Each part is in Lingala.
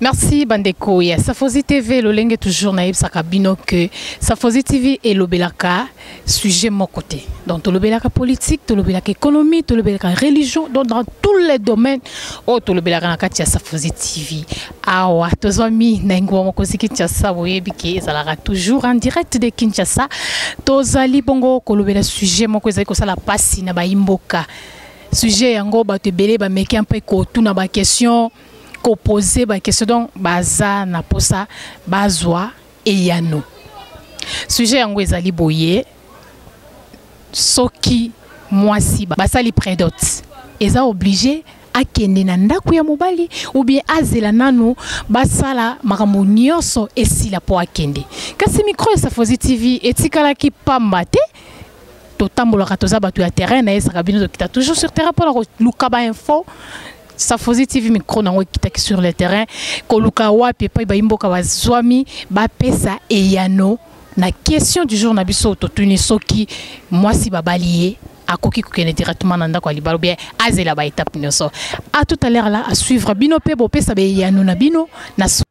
Merci bandeko ya Safozi TV lolenge toujours na yebisaka bino que Safozi TV elobelaka sujet moko te. Donc tolobelaka politique, tolobelaka économie, tolobelaka religion, donc dans tous les domaines oyo oh, tolobelaka na kati ya Safozi TV. Awa tozwami na engumba mokonzi Kinshasa boyebi ke ezalaka toujours en direct de Kinshasa. Tozali bongo kolobela sujet moko ezali kosala pasi na bayimboka. Sujet yango bato ebele bameki mpe kotuna ba question ko poser ba question donc baza na posa bazwa eyano sujet yango ezali boye soki mwasi basali predote eza oblige akende na ndako ya mobali ou bien azela nanu basala makambo nyonso esila mpo akende kasi mikro ya safozi tv etikalaki pamba te totambolaka toza bato ya terrain nayesaka bino tokita toujours sur terrain mpo na koluka bainfo Safozi TV micro nango ekitaki sur le terrain koluka wapi epai bayimboka bazwami bapesa eyano na question du jour na biso totuni soki mwasi babali ye akoki kokende directement na ndako ya libala obien azela baetape nyonso a tout à l'heure la asuivre bino mpe bopesa beyano na bino na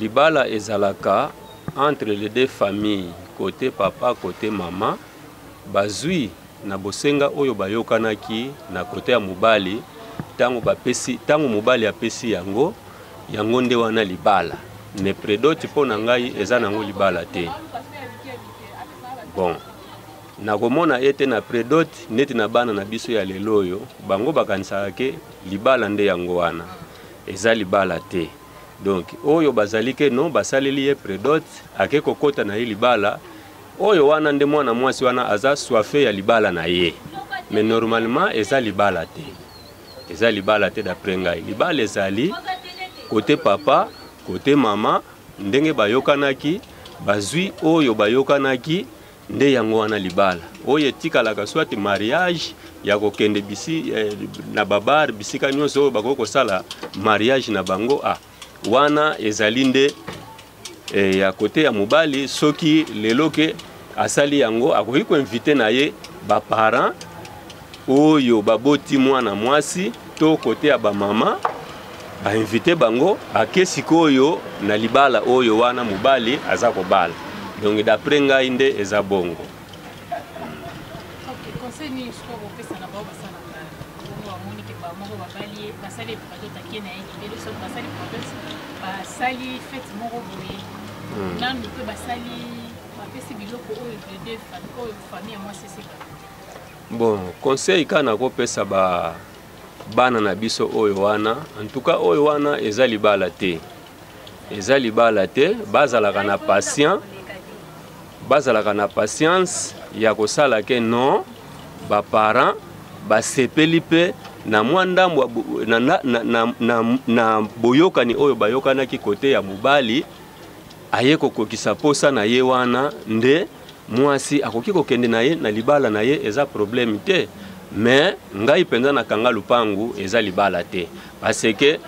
Libala ezalaka entre les deux familles, cote papa, cote maman, bazui na bosenga oyo bayokanaki na cote ya mobali, tango bapesi, tango mobali apesi yango, yango nde wana libala. Mais predote mpo na ngai eza nango libala te. Bon, nakomona ete na predote neti na bana na biso ya lelo oyo, bango bakanisaka ke libala nde yango wana, eza libala te. donc oyo bazali ke no basaleli ye predot ake kokota na ye libala oyo wana nde mwana mwasi wana aza soife ya libala na ye mais normalement eza libala te eza libala te d'après ngai libala ezali kote papa kote mama ndenge bayokanaki bazwi oyo bayokanaki nde yango wana libala oyo etikalaka soit mariage ya kokende bisi eh, na babar bisika nyonso oyo bakoki kosala mariage na bango ah, wana ezali nde eh, ya kote ya mobali soki lelo ke asali yango akoki koinvite na ye baparent oyo baboti mwana mwasi to kote ya bamama bainvite bango bake sikoyo na libala oyo wana mobali aza kobala donc d'après ngai nde eza bongo basali fete moko boye hmm. nanu mpe basali bapesi biloko oyo de deux oyo famille ya mwasi eseka bon conseil kaka nakopesa ba bana na biso oyo wana antuka oyo wana eza libala te eza libala te bazalaka na patient bazalaka na patience ya kosala ke non baparent basepeli mpe na mwa ndambo na, na, na, na, na, na boyokani oyo bayokanaki kote ya mobali aye kokokisa mposa na ye wana nde mwasi akoki kokende na ye na libala na ye eza problème te mais ngai mpenza nakanga lupangu eza libala te parce que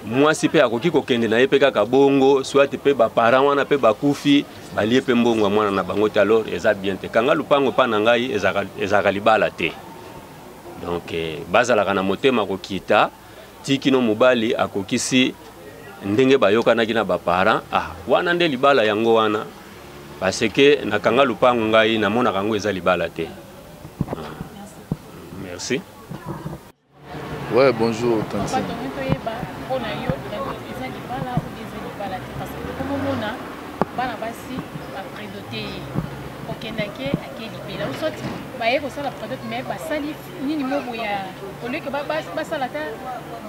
mwasi mpe akoki kokende na ye mpe kaka bongo soit mpe baparent wana mpe bakufi balie mpe mbongo ya mwana na bango te alors eza bien te kanga lupango mpa na ngai ezalaka libala te donc eh, bazalaka na motema kokita ti kino mobali akokisi ndenge bayokanaki na baparent ah, wana nde libala yango wana parce que nakanga lupangu ngai namonaka yango eza libala te ah. merci ouais bonjour tantine bana basi bapredote ye kokendaki ake libela soit baye kosala predote mais basali nini mobu ya oleke basala ata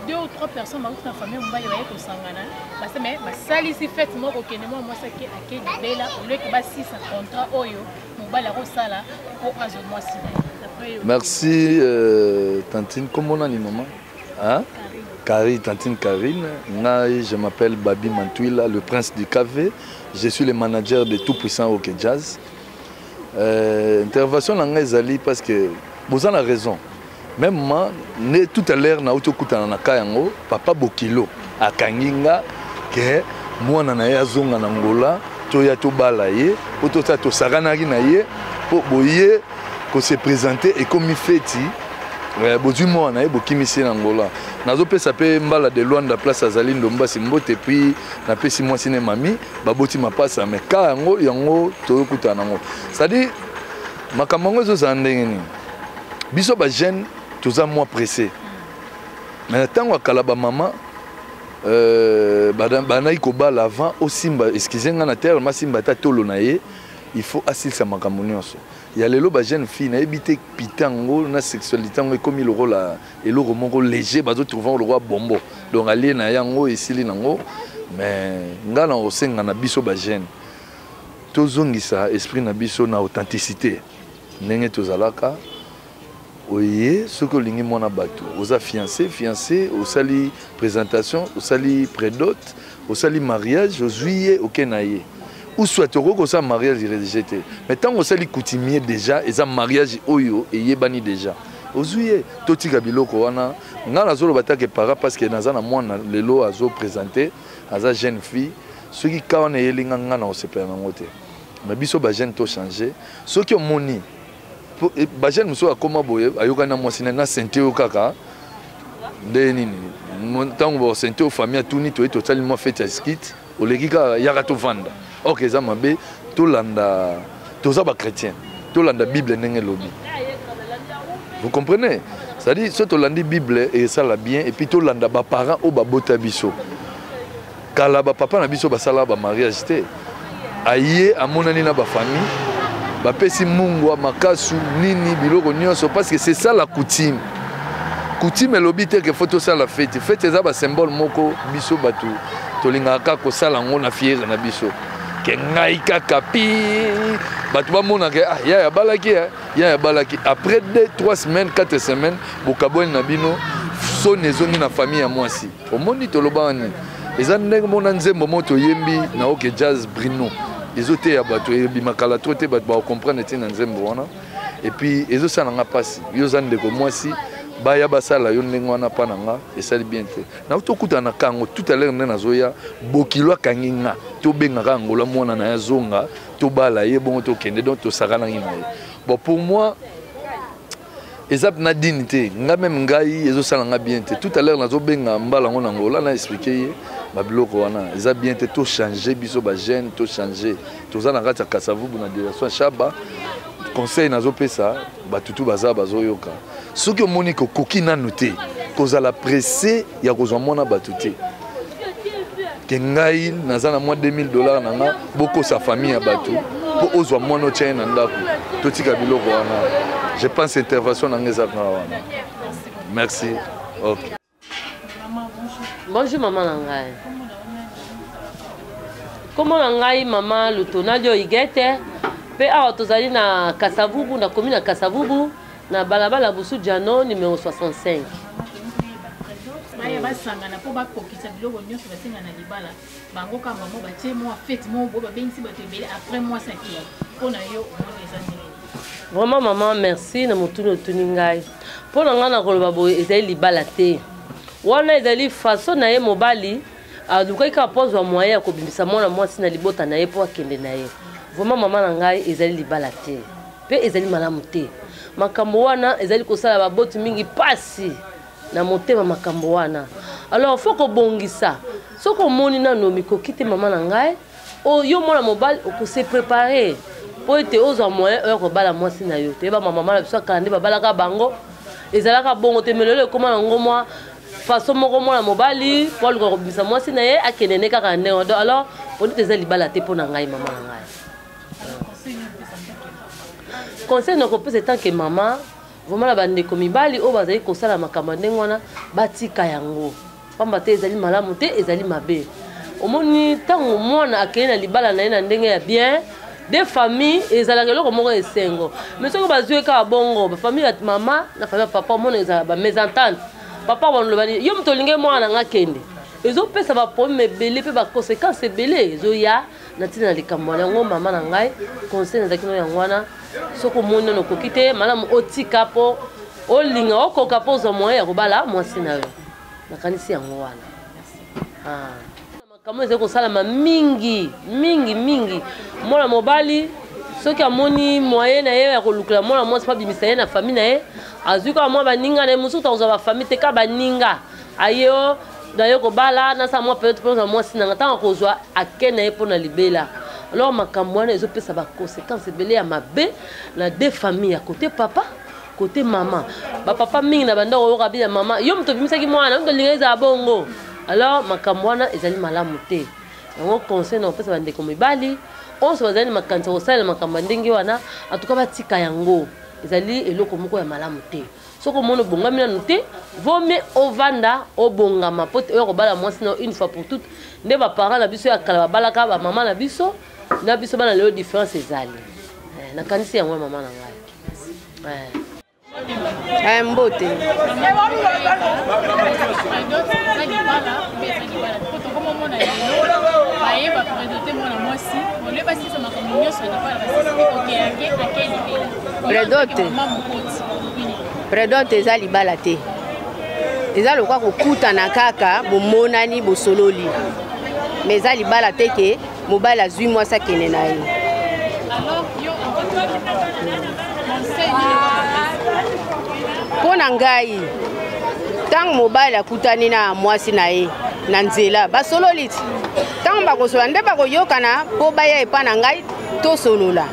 deux ou trois personnes bakuti na famille mobali baye kosangana base me basalisi fete moko kende mwa mwasi ake ake libela oleke basisa contrat oyo mobali akosala mpo azwa mwasi na ye merci euh, tantine kombo nani mama hein? Carine, tantine Karine, Ngai, je m'appelle Babi Mantuila, le prince du café. Je suis le manager de Tout Puissant Rock Jazz. Euh, intervention na ngai ezali parce que boza na raison même ma ne tout à l'heure nauti okutana na ka yango papa bokilo akangi nga ke mwana na ye azonga na ngola toya tobala ye po tosa tosakanaki na ye po boye kose présente ekomi feti eh, bozwi mwana na ye bokimisi ye na ngola nazopesa mpe mbala de luanda place azali ndombasi mbote puis napesi mwasi ne mami baboti mapasa me ka yango yango toyokutana nango cestadire makambo yango ezozala ndenge nini biso bajeune toza mwa presse me na ntango ya kala bamama euh, banaki kobala avant osimba eskize ngai na terre masimba ata tolo na ye il faut asilisa makambo nyonso ya lelo bajeune fille nayebi te pita yango na sexualité yango ekomi lokola eloko moko léger bazo trouve yango lokola bombo donc alie na yango esili nango mais nga na osenga na biso ba jeune tozongisa esprit na biso na authenticité ndenge tozalaka oye soki olingi mwana bato oza fiancé fiancé osali présentation osali prédote Osali mariage ozui ye oke na ye ou soit okoki kosala mariage religieux te mais ntango osali coutumier déjà eza mariage oyo eyebani déjà ozwi ye totika biloko wana ngai nazoloba take para parce que naza na mwana lelo azopresente aza jeune fille soki ka wana eyeli nga ngai na kosepela nango te mais biso bajeune tochange soki omoni eh, bajeune mosusu akoma boye ayokani na mwasi na sente yo kaka nde nini ntango basente yo famille atuni toye tosali mwa fete ya skit oleki kaka yaka tovanda ok eza mabe tolanda toza bachrétien tolanda bible ndenge elobi vous comprenez c'est-à-dire so tolandi bible esala bien et puis tolanda baparent oyo babota biso Kala ba papa na biso basala ba mariage te. Aye amonani na ba famille bapesi mungwa makasu nini biloko nyonso parce que c'est ça la coutume. Coutume elobi te que faut tosala fete. Fete eza ba symbole moko biso batu tolingaka kosala yango na fiere na biso. ke ngai kaka pi bato bamonaka ah, yaya abalaki eh? yaya abalaki après 2 3 semaines 4 semaines bokabwani na bino soni ezongi na famille ya mwasi omoni tolobaka nini eza ndenge mona nzembo mo toyembi na oke jazz brino ezoteya bato ebima kala to te bato bakokomprendre ntina nzembo wana epuis ezosala nga mpasi yo oza ndeko mwasi baya basala yo ndenge wana mpa na nga esali bien te nakuti tokutana na kango tout à l'heure nde nazoya bokilo akangi nga tobengaka angola mwana na ye azonga tobala ye bongo tokende donc tosakanaki na ye bon pour moi eza na dini te nga meme ngai ezosala nga bien te tout à l'heure nazobenga mbala yango na ngola na explike ye babiloko wana eza bien te tochange biso bajeune tochange toza na kati ya kasavubu na direction shaba conseil nazopesa batutu baza bazoyoka soki omoni kokoki nanu te kozala presse ya kozwa mwana bato te ke ngai naza na mwa 2000 dollar na nga bokosa famille ya bato mpo ozwa mwana otya ye na ndako totika biloko wana je pense intervention na nga eza kanga wana merci ok bonjour mama na ngai nkombo na ngai mama lutonalio igete mpe awa tozali na kasavubu nakomi na kasavubu Na balabala Busu Djano numero 65. baya basangana mpo bakokisa biloko nyonso basenga na libala bango kaka bango batie mwa fete moko boye babengisi bato ebele après mwa sakilo mpo na yo omoni eza ndenge vraiment mama merci na motuni otuni ngai mpo na ngai nakoloba boye ezali libala te wana ezali faso na ye mobali alukaki kaka mpo azwa moyen ya kobimisa mwana mwasi na libota na ye mpo akende na ye vraiment mama na ngai ezali libala te Mpe ezali malamu te. Makambo wana ezali kosala baboti mingi mpasi na motema makambo wana. Alors faut kobongisa. Soki omoni nano mikoki te mama na ngai, oh, yo mwana mobali okose preparer mpo ete ozwa moyen oya kobala mwasi na yo. Toyeba mamama na biso ya kala nde babalaka bango. Ezalaka bongo te, mais lelo ekoma na ngo mwa façon moko mwana mobali mpo aluka kobimisa mwasi na ye akende nde kaka ndenge alors polite eza libala te mpo na ngai mama na ngai conseil nakopesa etanke mama vraimen na bandeko mibali oyo bazali kosala makambo ya ndenge wana batika yango mpamba te ezali malamu te ezali mabe omoni ntango mwana akei na libala na ye na ndenge ya bien de famille ezalaka eloko moko ya esengo mai soki bazwi kaka bongo bafamille ya mama na famille ya papa omona ezala bamesentante papa balobani yo moto olingi mwana na nga kende ezopesa baproblème ebele mpe baconséquence ebele ezoya na ntina na likambo wana yango mama na ngai conseil nazalaki no yango wana soki omoni nano okoki te malamu otika mpo olinga okoka mpo ozwa moyen ya kobala mwasi na yo nakanisi yango wana ah. makambo ezali kosalama mingi mingi mingi mwana mobali soki amoni moyen na ye ya kolukela mwana mwasi mpo abimisa ye na famille na ye azwi kaka mwa baninga na ye mosusu akozwa bafamille te kaka baninga aye o naye kobala nasala mwa periode mpo na mwasi nanga ntango akozwa ake na ye mpo na libela alors makambo wana ezopesa baconséquence ebele ya mabe na de famille ya kote papa kote mama bapapa mingi na bandako oyoka bina mama yo moto obimisaki mwana yo moto olinga ezala bongo alors makambo wana ezali malamu te yango conseil na kopesa bandeko mibali onso bazali na makanisa kosalela makambo ya ndenge wana atuka batika yango ezali eloko moko ya malamu te soki omoni obongami nanu te vome ovanda obongama mpo te oya kobala mwasi na une fois pour toute nde baparent na biso ya kala babalaka bamama na biso na biso bana lelo différence ezali eh, nakanisi yango ya mama na ngai eh. eh, mbote baye bapresente mwana mwasi olebasisa makambo nyonso na bana basisi okeyange akelibela predote Predote eza libala te. Eza lokwa kokutana kaka bomonani bosololi. Mais eza libala te ke mobali azwi mwasi akende na ye. Mpo na ngai ntango mobali akutani na mwasi na ye na nzela basololi ti ntango bakosolola nde bakoyokana mpo baya epai na ngai tosolola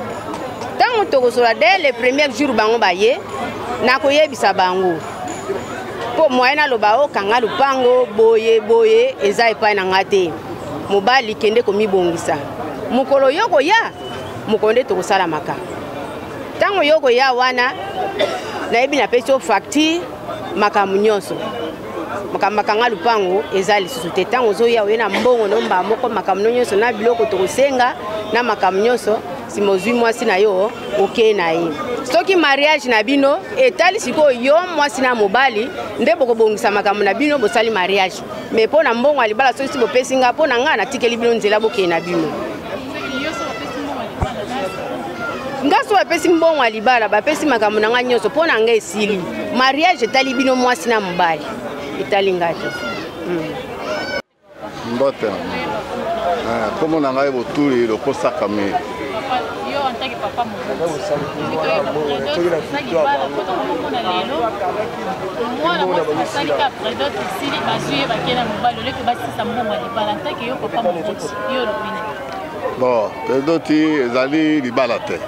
ntango tokosolola dès le premier jour bango baye nakoyebisa bango mpo moye naloba okanga oh, lopango boye boye eza epai na ngai te mobali kende komibongisa mokolo yo koya mokolo nde tokosalamaka ntango yo koya wana nayebi napesi yo facture makambo nyonso makambo makanga lupango eza lisusu te ntango ozoya oye na mbongo no mbaa moko makambo no nyonso na biloko tokosenga na makambo nyonso nsima ozwi mwasi na yo okei na ye soki mariage na bino etali sikoyo yo mwasi na mobali nde bokobongisa makambo na bino bosali mariage mais mpo na mbongo ya libala soki si bopesi ngai mpo na ngai natikeli bino nzela bokei na bino ngai soki bapesi mbongo ya libala bapesi makambo na ngai nyonso mpo na ngai esili mariage etali bino mwasi na mobali etali ngai te hmm. mbote nkombo ah, na ngai botuli lokosaka mei mwana mwasi mosali ka predot esili bazwi ye bakei na mobali oleke basisa mbongo ya libala ntake yo papa mokoti yo olobi na bon predoti ezali libala te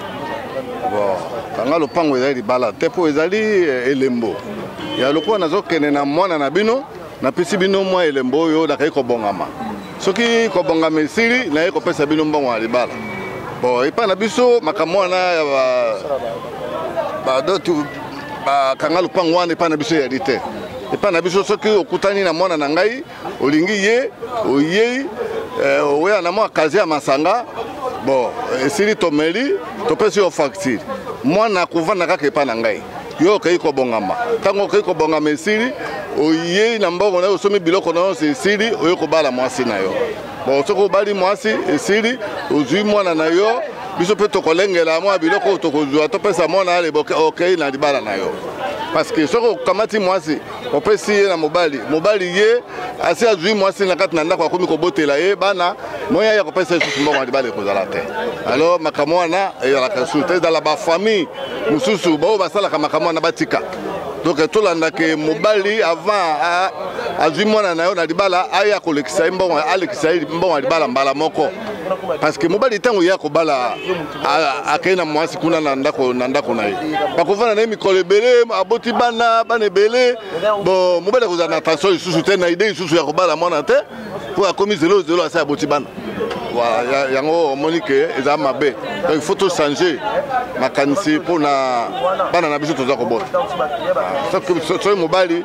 bon kanga lopango ezali libala te mpo ezali eh, elembo ya lokola nazokende na mwana na bino napesi bino mwa elembo oyo nakei kobongama soki kobongama esili naye kopesa bino mbongo ya libala bon epai na biso makambo wana ya badotu bakanga lopango wana epai na biso eyali te epai na biso soki okutani na mwana na ngai olingi ye oyei eh, oweya na mwa kazi ya masanga bon esili tomeli topesi yo facture mwana akovanda kaka epai na ngai yo okei kobongama ntango okei kobongama esili oyei na mbongo na yo osomi biloko na yonso esili oye kobala mwasi na yo bon soki obali mwasi esili ozwi mwana na yo biso mpe tokolengela mwa biloko oyo tokozwa topesa mwana ya liboke okei na libala na yo parce que soki okamati mwasi opesi ye na mobali mobali ye asi azwi mwasi na kati na ndako akomi kobotela ye bana moya ya kopesa lisusu mbongo ya libala ekozala te alors makambo wana eyalaka lisusu te ezala bafamille mosusu baoyo basalaka makambo wana batika donc tolanda ke mobali avant azwi mwana na yo na libala aya kolekisa ye mbongo alekisa ye mbongo ya libala mbala moko parce que mobali ntango ye akobala akei na mwasi kuna na ndako na ndako na ye bakofanda na ye mikolo ebele aboti bana bana ebele bo mobali akozala na tension lisusu te na idee lisusu ya kobala mwana te mpo akomi zelo zelo asi aboti bana voilà yango omoni ke eza mabe donc il faut to changer makanisi mpo na bana na biso toza kobota soki mobali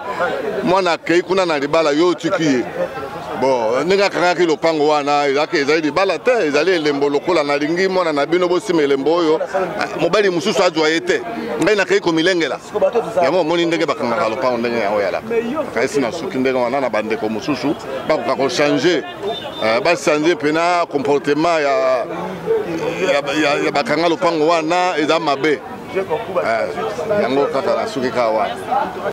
mwana akei kuna na libala yo otiki ye bon ndenge akangaki lopango wana ezalaki ezali libala te ezali elembo lokola nalingi mwana na bino bosima elembo oyo ah, mobali mosusu azwa ye te ngai nakei komilengela yango omoni ndenge bakangaka lopango ndenge yango yalaka kasi nasuki ndenge wana na bandeko mosusu bakoka kochange eh, bachange mpena comportement ya, ya, ya, ya bakanga lopango wana eza mabe eh, yango kaka nasuki kaka wana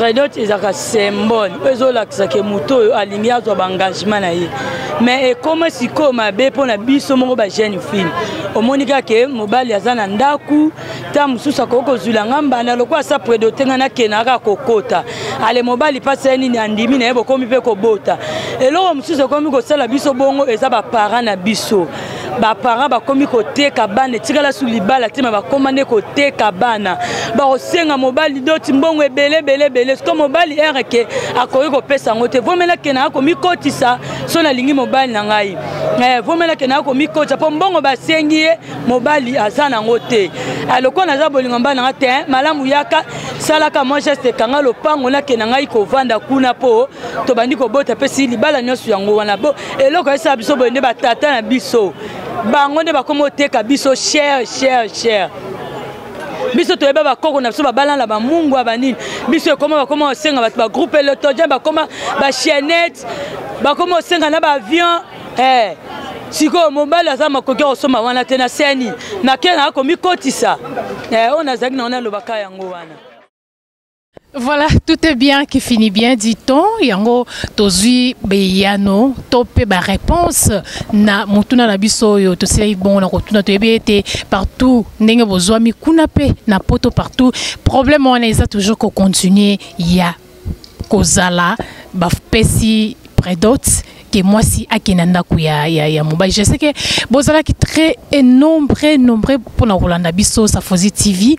redot ezalaka symbole oyo ezolakisa ke moto oyo alingi azwa baengagement na ye mais ekoma sikoyo mabe mpo na biso moko bajeune fille omoni kaka ke mobali aza na ndako ntango mosusu akoki kozwila nga mbanda lokola asa predote nga nakenda kaka kokota ale mobali mpasi ya nini andimi na ye bokomi mpe kobota eloko mosusu ekomi kosala biso bongo eza baparent na biso baparent bakomi koteka bana etikala su libala te ma bakoma nde koteka bana bakosenga mobali doti mbongo ebele ebele ebele siko mobali ere ke akoki kopesa yango te vomelake na akomikotisa so nalingi mobali na ngai eh, vomelake na akomikotisa mpo mbongo basengi ye mobali aza nango te eh, lokola naza bolingo mbana nga te eh, malamu yaka salaka mwa geste ekanga lopango nakenda ngai kovanda kuna mpo tobandi kobota mpe si libala nyonso yango wana eloko esala biso boye nde batata na biso bango nde bakoma oteka biso cher cher cher biso toyeba bakoko na biso babala na bamungwa banini biso ekoma bakoma osenga bato bagroupe elotogen bakoma bachiennete bakoma osenga na baavion eh. sikoyo mobali aza makoki ya kosomba wana te na seni makena akomikotisa eh, oyo nazalaki na wana alobaka yango wana Voilà, tout est bien qui finit bien, dit-on. Yango, tozui beyano, topé ba réponse na mutuna na biso yo, to sei bon na kotuna to ebete partout ndenge bozwa mikuna pe na poto partout. Problème on est toujours ko continuer ya kozala ba pesi predote que moi si akenda ndaku ya ya, ya mobali je sais que bozalaki très et nombreux nombreux pour na kolanda biso Safozi TV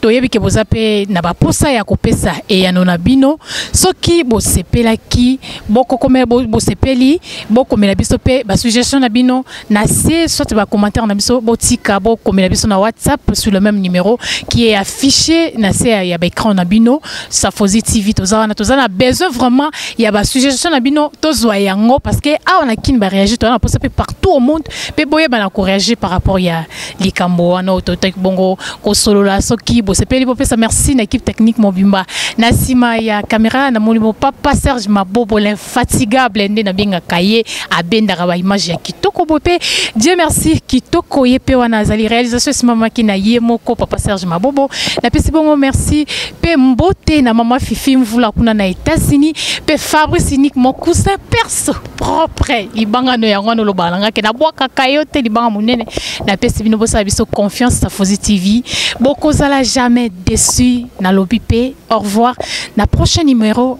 toyebi ke boza mpe na baposa ya kopesa eyano na bino soki bosepelaki bosepeli bokomela biso mpe basuggestion na bino na se soit ba commentaire na biso botika bokomela biso na whatsapp sur le même numéro qui est affiché na se ya baécran na bino safozi tv toza wana toza na besoin vraiment ya basuggestion na bino tozwa yango parce que awa na kini baréagir toza na mposa mpe partout au monde mpe boyebana koréagir par rapport ya likambo wana oyo totaki bongo kosolola soki bosepeli bopesa merci na équipe technique mobimba na nsima ya caméra namoni bo papa serge mabobo fatigable nde nabengaka ye abendaka baimage ya kitoko boye mpe dieu merci kitoko ye mpe wana azali réalisation esimamaki na ye moko papa serge mabobo napesi bongo merci mpe mbote na mama fifi mvula kuna na etats-unis mpe fabrice unique mon cousin perso propre libanga no yango wana olobaka na ngai ke nabwakaka yo te libanga monene napesi bino bosala biso confiance safozi tv bokozala jamais déçu nalobi mpe au revoir na prochain numéro